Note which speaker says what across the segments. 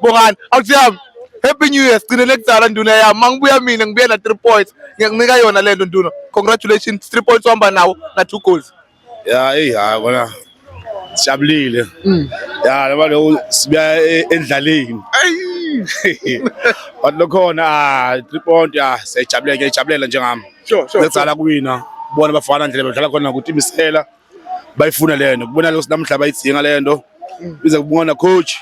Speaker 1: Bongani, awuthi yami. Happy New Year. Sigcinele kuzala nduna yami. Mangibuya mina ngibuye na 3 points. Ngiyakunika yona lento nduna. Congratulations. 3 points uhamba nawo na 2 goals. Ya hey hayi
Speaker 2: kona. Sijabulile. Mm. Ya laba lo sibuya e, endlaleni. Hey. But lokhona 3 ah, point ya ah, siyajabuleka, ijabulela njengami. Sure, sure. Ngizala
Speaker 1: kuwina.
Speaker 2: Bona bafana ndlela bedlala khona ukuthi imisela. bayifuna le nto kubona lokho namhla bayidzinga le nto bize kubona coach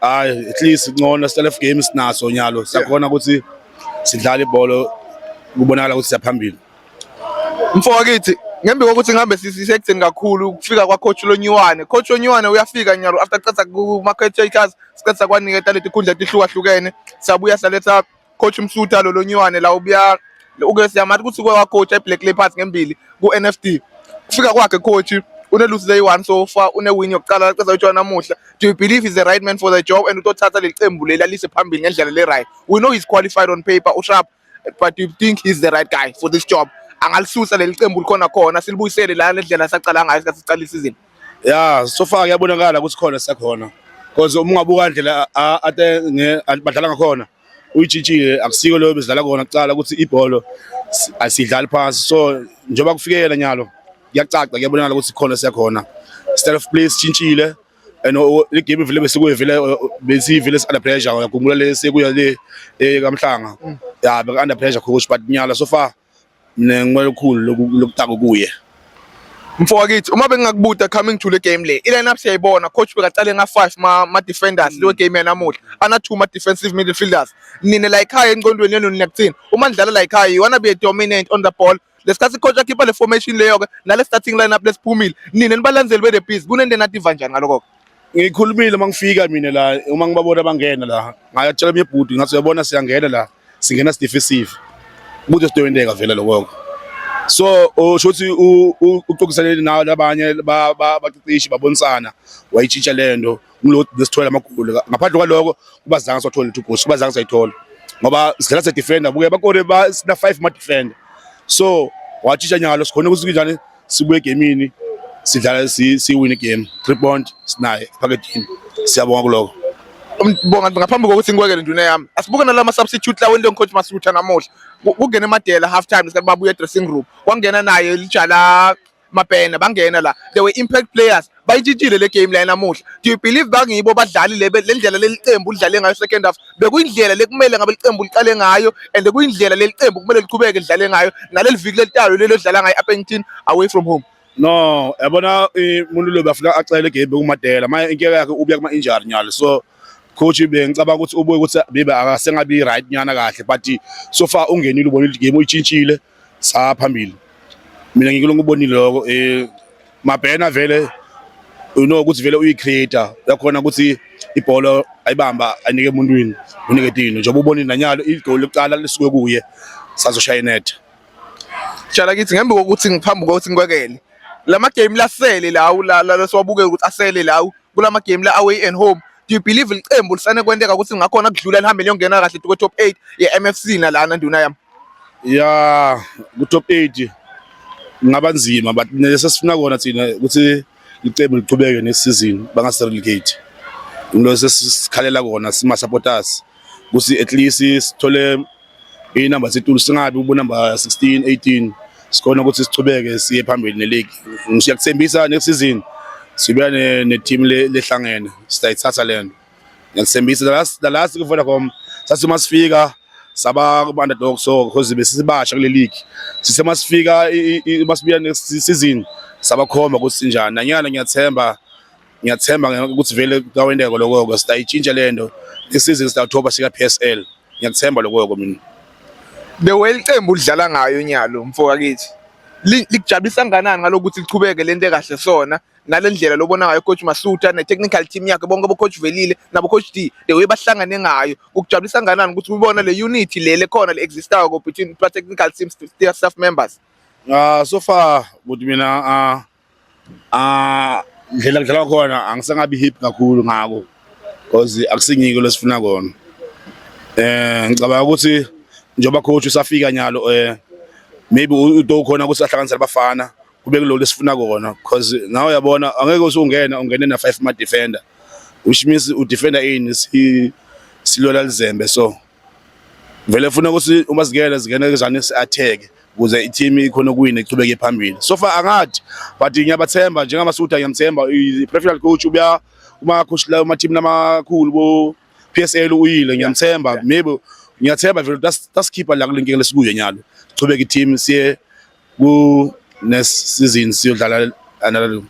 Speaker 2: hayi at least ngcono self game sinaso nyalo siyakhona ukuthi sidlala ibhola kubonakala ukuthi siyaphambili mfo
Speaker 1: wakithi ngembi kokuthi ngihambe sisekutheni kakhulu ukufika kwacoach lonyiwane coach lonyiwane uyafika nyalo after qeda kuma-catators siqeda kwaniketa letikhundla etihlukahlukene siyabuya saletha coach Msuta lo lonywane la ubuya uke siyamathi ukuthi uke wacoacha eBlack Leopards ngembili ku-NFD kufika kwakhe coach unelusi leyi-one so far unewin yokuqala laceza utshona namuhla do you believe is the right man for the job and utothatha leli qembu leli alise phambili ngendlela le-right we know he's qualified on paper usharp but do you think he's the right guy for this job angalisusa leli qembu likhona khona silibuyisele la lendlela sacala ngayo sikhathi sicala isizini ya so far
Speaker 2: kuyabonakala ukuthi khona sekhona because uma ungabuka indlela ate badlala ngakhona uyijitshile akusiko leyo bezidlala kona kucala ukuthi ibholo asidlali phansi so njengoba kufikela nyalo kuyacaca kuyabonakala ukuthi khona sekhona style of play sitshintshile and le game vele besikuye vele besivele under pressure uyakhumbula le sekuya le eh, kamhlanga mm. ya beka under pressure khona but nyala so far mina ngicela ukukhulu lokutaka kuye mfo
Speaker 1: wakithi uma bengingakubuta coming to le game le i-line up siyayibona coach bekacale nga-five ma-defenders leyo game yanamuhla ana-two ma-defensive midfielders nina la yikhaya enqondweni yenu nina kuthini uma nidlala la yikhaya you wanna be a dominant on the ball lesikhathi coach akhipha le formation leyo-ke nale starting line up lesiphumile nina nibalandzeli be-the bees kunento enadiva njani ngaloko-ke ngikhulumile uma
Speaker 2: ngifika mina la uma ngibabona bangena la ngayatshela mina ibhuti ngathi uyabona siyangena la singena sidife isive ukuthi sidoyendeka vele lokho so usho ukuthi uxoxiseleni nawo labanye bacicishe babonisana wayitshintsha le nto kulo nesithola amagoli ngaphandle kwaloko kuba zange sothola two goals kuba zange sayithola ngoba sidlala se defender buke bakore ba sina 5 ma defender so watshintsha nyalo sikhona ukuthi kunjani sibuye egemini sidlala siwine igame three point sinaye ephakethini siyabonga kuloko bonga
Speaker 1: ngaphambi kokuthi ngikwekele nduna yami asibuke nalama substitute lawo into ngicoach masutha namuhla kungena emadela half time isikhathi babuya dressing room kwangena naye lijala mapena bangena la they were impact players bayitshintshile le game la namuhla do you believe bangibo badlali le ndlela leli qembu lidlale ngayo second half bekuyindlela lekumele ngabe liqembu liqale ngayo and kuyindlela leli qembu kumele liqhubeke lidlale ngayo naleli viki lelitayo lelo dlala ngayo Appington away from home no yabona
Speaker 2: umuntu lo bafuna axele game kumadela manje inkinga yakhe ubuya kuma injury nyalo so coach bengicabanga ukuthi ubuye ukuthi bibe akasengabi right nyana kahle but so far ungenile ubonile game uyitshintshile saa phambili mina ngikule ngubonile lokho um mabhena vele you know ukuthi vele uyi-creator uyakhona ukuthi ibhola ayibamba anike emuntwini unike tino njengoba ubonile nanyalo igoli lokuqala lisuke kuye sazoshaya inetha Shala
Speaker 1: kithi ngembe kokuthi ngiphambi kokuthi ngikwekele lama game lasele lawo la la siwabuke ukuthi asele lawo kulama game la away and home do you believe liqembu lisane kwenteka ukuthi ngakhona kudlula lihambe liyongena kahle to top 8 ye MFC nalana nduna yami ya
Speaker 2: ku-top 8 ngaba nzima but nesesifuna kona thina ukuthi licebo liqhubeke next season bangaserelegate ngilo sesikhalela kona sima supporters kusi at least sithole i number setulu singabi ubu number 16 18 sikhona ukuthi sichubeke siye phambili ne league ngiyakuthembisa next season sibuya ne team lehlangene sitayithatha lento Ngiyathembisa la la la sikuVodacom sathi uma sifika saba kuma-underdog so because besisibasha kule league sithe uma sifika uma sibuya next season sabakhomba ukuthi sinjani nanyana ngiyathemba ngiyathemba ukuthi vele kawendeko lokho sitayitshintsha le nto next season sitawuthoba sika-PSL ngiyakuthemba lokho mina the
Speaker 1: way iqembu lidlala ngayo unyalo mfoka kithi likujabulisa kangakanani ngalokuthi liqhubeke lento ekahle sona nale ndlela lobona ngayo coach Masuta ne-technical team yakhe bonke bocoach Velile nabocoach D the way bahlangane ngayo kukujabulisa kanganani ukuthi ubona le unity le lekhona le existayo ko between plus technical team staff members uh, so
Speaker 2: far ukuthi mina uh, uh, ndlela kudlalwa khona angisangabi hip kakhulu ngako because akusingiko lesifuna kona eh ngicabanga ukuthi njengoba coach usafika nyalo eh maybe uto khona ukuthi ahlanganisele abafana kube kulolu esifuna kona because nawe uyabona angeke usungena ungene na five ma defender which means u defender ini si silola lizembe so vele funa ukuthi uma sigele zingena kuzane si attack kuze i-team ikhona ukuwina ichubeke phambili so far angathi but ngiyabathemba njengamasuda ngiyamthemba i-professional coach ubuya uma coach la uma team lamakhulu bo PSL uyile ngiyamthemba maybe ngiyathemba vele that's that's keeper la kulenkinga lesikuyo nyalo chubeke i-team siye ku next season siyodlala another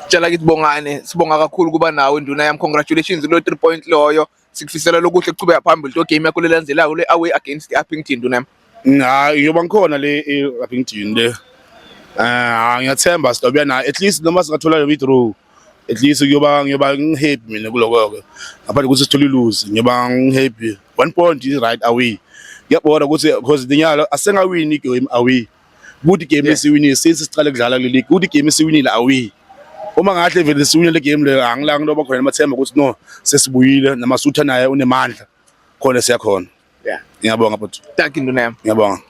Speaker 2: Tshela kithi
Speaker 1: Bongane, sibonga kakhulu kuba nawe nduna yami. Congratulations lo 3 point loyo. Sikufisela lokuhle kuchubeka phambili to game yakho lelandelayo le away against Uppington nduna yami. Hayi ngiyoba ngikhona
Speaker 2: le e-Uppington le. Eh ngiyathemba sizobuya nayo at least noma singathola le withdraw. at least kuyoba ngiyoba ngihappy mina kuloko-ke ngaphandle ukuthi sithole iluzi ngiyoba ngihappy one point is right away ngiyabona ukuthi because linyalo asengawini igame away kuthi igame esiwinile since siqale kudlala kule league kuthi igame esiwinile away uma ngahle vele siwine le game leyo angilanga into bakhona namathemba ukuthi no sesibuyile namasutha naye unemandla khona siyakhona yeah
Speaker 1: ngiyabonga
Speaker 2: bhuti thank you nduna
Speaker 1: yami
Speaker 2: ngiyabonga